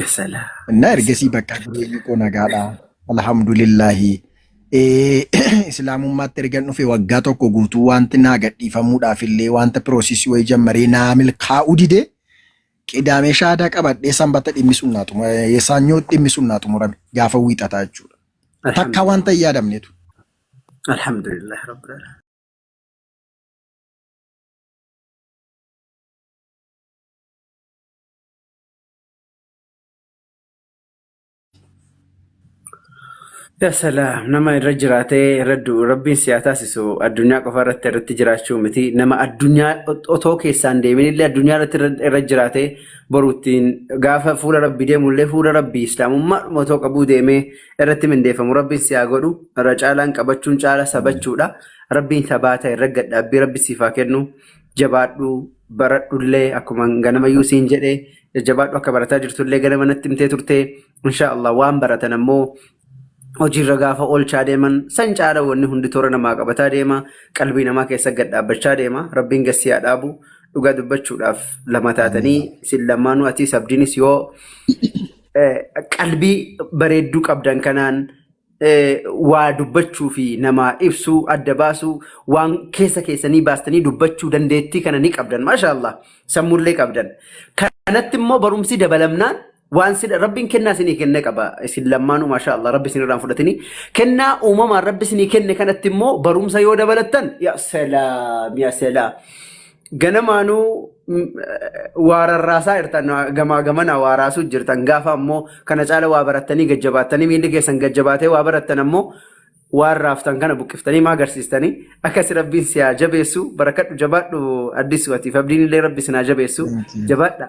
Yasalaa. Innaa ergasii bakka jireenyi koo nagaadha. Alhamdulillahi. Eh, Islaamummaatti ergan dhufe waggaa tokko guutuu wanti naa gadhiifamuudhaaf illee wanta piroosisii wayii jammaree naa milkaa'uu dide qidaamee shaadaa qabadhee sanbata dhimmi sunnaa xumura eh, saanyoo dhimmi sunnaa xumurame gaafa wiixataa jechuudha. Takka wanta hin yaadamnetu. Alhamdulillah rabbil alamin. Ya salaam nama irra jiraatee irra du'u rabbiin si haa taasisu addunyaa qofa irratti irratti jiraachuu miti nama addunyaa ot- otoo keessaan deemin illee addunyaa irratti irra irra jiraatee boruuttiin gaafa fuula rabbii deemu illee fuula rabbii islaamummaa dhuma otoo qabuu deemee irratti mindeeffamu rabbiin si haa godhu irra caalaan qabachuun caala sabachuudha rabbiin sabaata irra gadhaabbii rabbi siif haa kennu jabaadhu baradhullee akkuma ganamayyuu siin jedhe jajjabaadhu akka barataa jirtullee ganama natti himtee turte insha Allah waan baratan ammoo hojiirra gaafa oolchaa deeman san caala wanni hundi toora namaa qabataa deema qalbii namaa keessa gad dhaabbachaa deema rabbiin gassii haa dhaabu dhugaa dubbachuudhaaf lama taatanii isin lamaanuu atiis abdiinis yoo eh, qalbii bareedduu qabdan kanaan eh, waa dubbachuu fi namaa ibsuu adda baasuu waan keessa keessanii baastanii dubbachuu dandeettii kana ni qabdan maashaallah sammuullee qabdan kanatti immoo barumsi dabalamnaan waan sin rabbiin kennaa isinii kenne qaba isin lammaanuu maashaallah rabbi isin irraan fudhatini kennaa uumamaan rabbi isinii kenne kanatti immoo barumsa yoo dabalattan yaa salaam yaa salaam ganamaanuu mm, waararraasaa jirtan gamaa gamanaa waaraasuu jirtan gaafa ammoo kana caala waa barattanii gajjabaattanii miilli keessan gajjabaatee waa barattan ammoo waan raaftan kana buqqiftanii maa agarsiistanii akkasi rabbiin si haa jabeessu barakadhu jabaadhu addisuu atiif abdiin illee rabbi sin haa jabeessu jabaadha.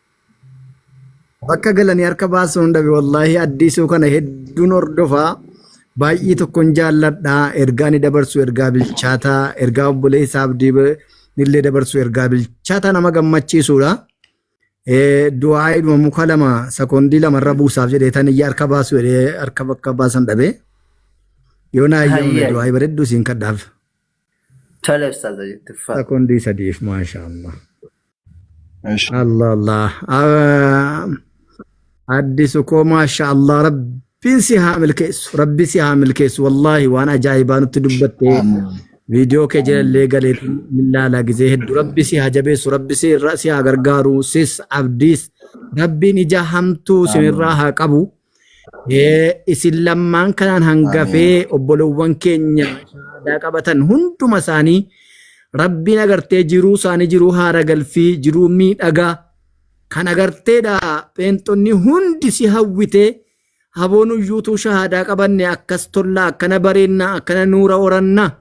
Bakka galanii harka baasuun dhabe wallaahi addiisuu kana hedduun hordofaa baay'ee tokkon jaalladha ergaa ni dabarsu ergaa bilchaataa ergaa obboleessa abdii illee dabarsu ergaa bilchaataa nama gammachiisuudha. Du'aayiidhuma muka lama sekoondii lama irra buusaaf jedhee tan iyya harka baasu jedhee harka bakka baasan dhabe. Yoo naa eeyyamame Hayyee. du'aayii bareedduu siin kadhaaf. Tole ustaaza jetti faa. Sakondii sadiif maashaa Allah. Eesh. Allah Allah. Ah, Addisu koo maashaa Allah rabbiin si haa milkeessu. Rabbi si haa milkeessu. Wallaahi waan ajaa'ibaa nutti dubbattee viidiyoo kee jalallee galee millaala gizee hedduu rabbi si haa jabeessu. Rabbi si irra si haa gargaaru. Sis abdiis rabbiin ija hamtuu sinirraa haa qabu. Eh, Isin lammaan kanaan hangafee obbolowwan keenya shahaadaa qabatan hunduma isaanii rabbiin agartee jiruu isaanii jiruu haara galfii jiruu miidhagaa kan agarteedha pheenxonni hundi si hawwitee haboon uyyuutuu shahaadaa qabanne akkas tollaa akkana bareennaa akkana nuura orannaa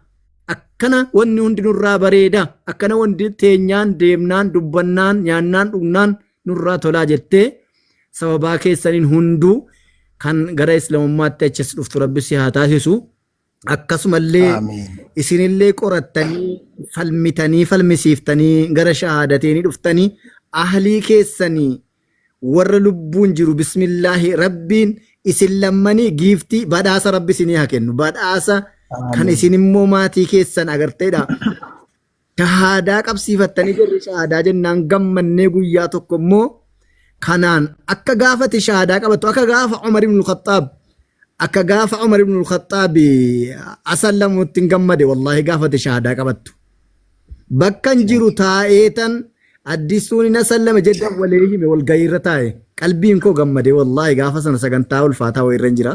akkana wanni hundi nurraa bareeda akkana wanti teenyaan deemnaan dubbannaan nyaannaan dhugnaan nurraa tolaa jettee sababaa keessaniin hunduu kan gara islamummaatti achis dhuftu rabbi si haa taasisu akkasumallee Aamiin. isinillee qorattanii falmitanii falmisiiftanii gara shahaadatii ni dhuftanii ahlii keessanii warra lubbuun jiru bismillaahi rabbiin isin lammanii giiftii badhaasa rabbi isinii haa kennu badhaasa kan Aamiin. isin immoo maatii keessan agarteedha Shahaadaa qabsiifattanii jarri shahaadaa jennaan gammannee guyyaa tokko immoo kanaan akka gaafate shahaadaa qabattu akka gaafa Umar ibn Khattaab akka gaafa Umar ibn Khattaab asallamutti hin gammade wallaahi gaafate shahaadaa qabattu. Bakkan jiru taa'ee tan addisuun hin asallame jedhan walii hime walgahii irra taa'e qalbiin koo gammade wallaahi gaafa sana sagantaa ulfaataa wayirra hin jira.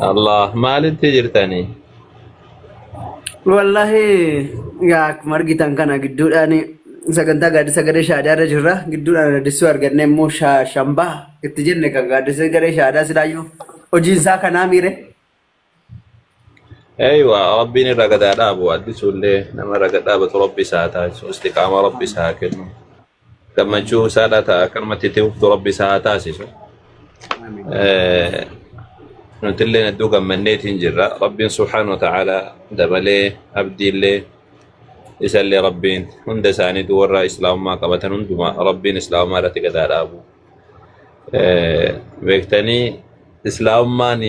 Allah maalitti jirtanii? Wallahi yaa akkuma argitan kana gidduudhaan sagantaa gaaddisa garee shaadaa irra jirra. Gidduudhaan addessuu arganne immoo sha- shambaa itti jenne kan gaaddisa garee shaadaa silaayyuu hojiin isaa kanaa miire. Eeywa rabbiin irra gadaa dhaabu addisuullee nama irra gad dhaabatu rabbi isaa taasisu istiqaama rabbi isaa kennu. gammachuu isaadha ta'a akkanumatti itti fuftu rabbi isaa haa taasisu Amiin. Eh, nutillee hedduu gammanneetiin jirra rabbiin subhaanahu wa ta'aalaa dabalee abdiillee isallee rabbiin hunda isaaniitu warra islaamummaa qabatan hundumaa rabbiin islaamummaa irratti gadaa dhaabu Eh, beektanii islaamummaan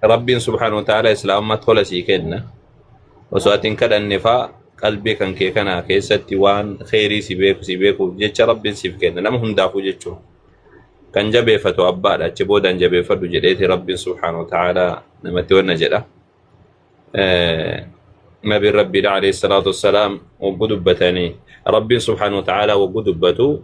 Rabbiin subhaanahu wa ta'aala islaamummaa tola sii kenna. Osoo ati hin kadhanne faa qalbii kan kee kana keessatti waan kheyrii si beeku si beekuuf jecha Rabbiin siif kenna nama hundaafuu jechuun. Kan jabeeffatu abbaadha achi boodaan jabeeffadhu jedheeti Rabbiin subhaanahu wa ta'aala namatti wanna jedha. Eh, Nabiin Rabbiidha alayhi salaatu wassalaam waggu dubbatanii Rabbiin subhaanahu wa ta'aala waggu dubbatu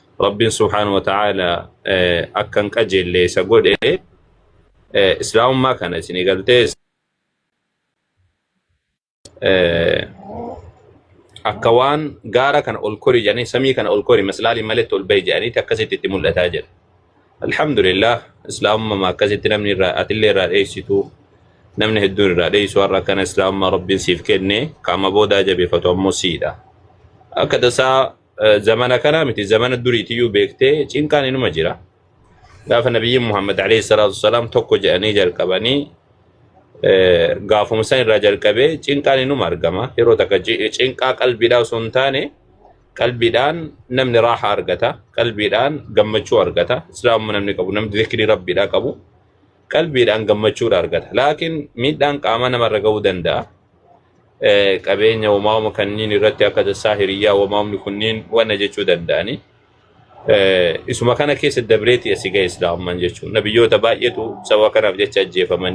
rabbiin subhaanahu wa ta'aala akkan qajeelle isa godhe islaamummaa kana isin eegaltee akka waan gaara kana ol kori jedhanii samii kana ol kori maslaaliin maletti ol bahi jedhaniiti akkasitti itti mul'ataa jira. Alhamdulillah islaamummaa akkasitti namni irraa atillee irraa dheessitu namni hedduun irraa dheessu har'a akkana islaamummaa rabbiin siif kenne qaama boodaa jabeeffatu ammoo siidha. Akka tasaa Eh, Zamana kana miti zamana duriitiyyuu beektee cinqaan inuma jira. Gaafa nabiyyiin Muhammad alayhi salaatu wasalaam tokko jedhanii jalqabanii eh, gaafuma san irraa jalqabee cinqaan inuma argama. Yeroo takka ci- cinqaa qalbiidhaa osoo hin taane qalbiidhaan namni raaha argata. Qalbiidhaan gammachuu argata. Islaamuma namni qabu namni zikrii rabbiidhaa qabu qalbiidhaan gammachuudha argata. Laakiin miidhaan qaamaa namarra ga'uu danda'a. eh, qabeenya uumama kanniin irratti akka tassaa hiriyyaa uumamni kunniin wanna jechuu danda'anii Eh, isuma kana keessa dabreeti asi ga'e islaamummaan jechuun nabiyyoota baay'eetu sababa kanaaf jecha ajjeefamanii